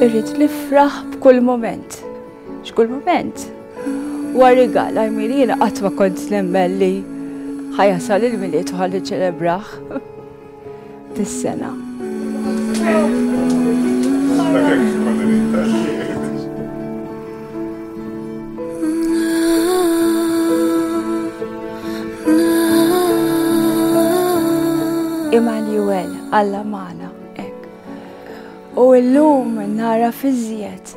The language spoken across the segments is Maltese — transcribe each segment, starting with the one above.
irrid nifraħ b'kull moment. X'kull mument huwa rigal għajmir jiena qatt ma kont nemmen li ħajasal il-milied u ħalli ċelebraħ. Tis-sena. Immanuel, Alla Mana, ek. U illum nara fiżjed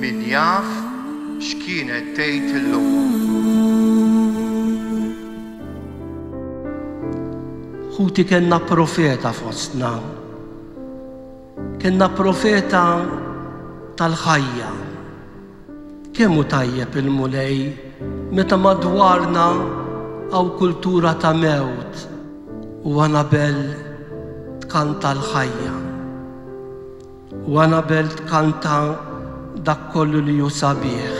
Min jaf x'kienet tgħid illum. Ħuti kellna profeta fostna. Kellna profeta tal-ħajja. Kemm hu tajjeb il-Mulej meta madwarna hawn kultura ta' mewt u Anabel tkanta l-ħajja. U Anabel tkanta dak kollu li hu sabiħ.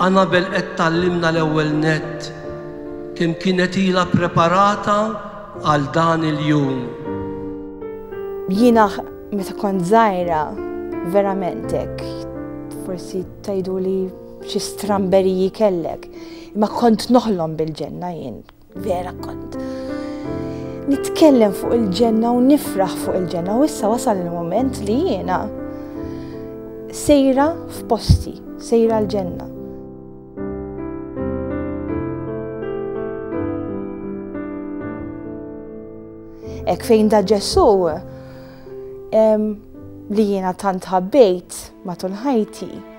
Anabel qed tgħallimna l-ewwel nett kemm kienet ilha ppreparata għal dan il-jum. Jiena meta kont żgħira verament hekk forsi tgħiduli xi stramberiji kellek, imma kont noħlom bil-ġenna jien. Vera kont. Nitkellem fuq il-ġenna u nifraħ fuq il-ġenna u issa wasal il-moment li jiena sejra f'posti, sejra l-ġenna. Ek fejn da Ġesu li jiena tant ħabbejt matul ħajti.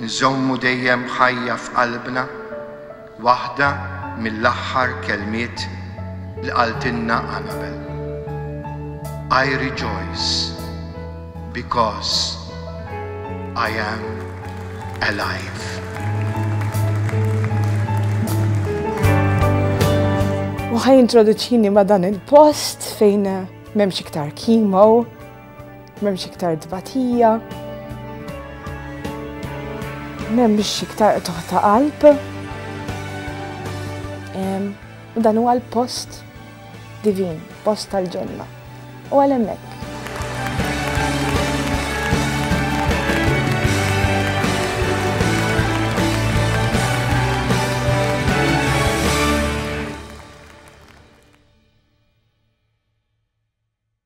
Nżommu dejjem ħajja f'qalbna waħda mill-aħħar kelmiet li qaltilna Anabel, I rejoice because I am alive. U ħa jintroduċini ma' dan il-post fejn m'hemmx iktar chemo, M'hemmx iktar tbatija. M'hemmx iktar qtuħ ta' qalb. U dan huwa l-post divin, post tal-ġenna. U għal hemmhekk.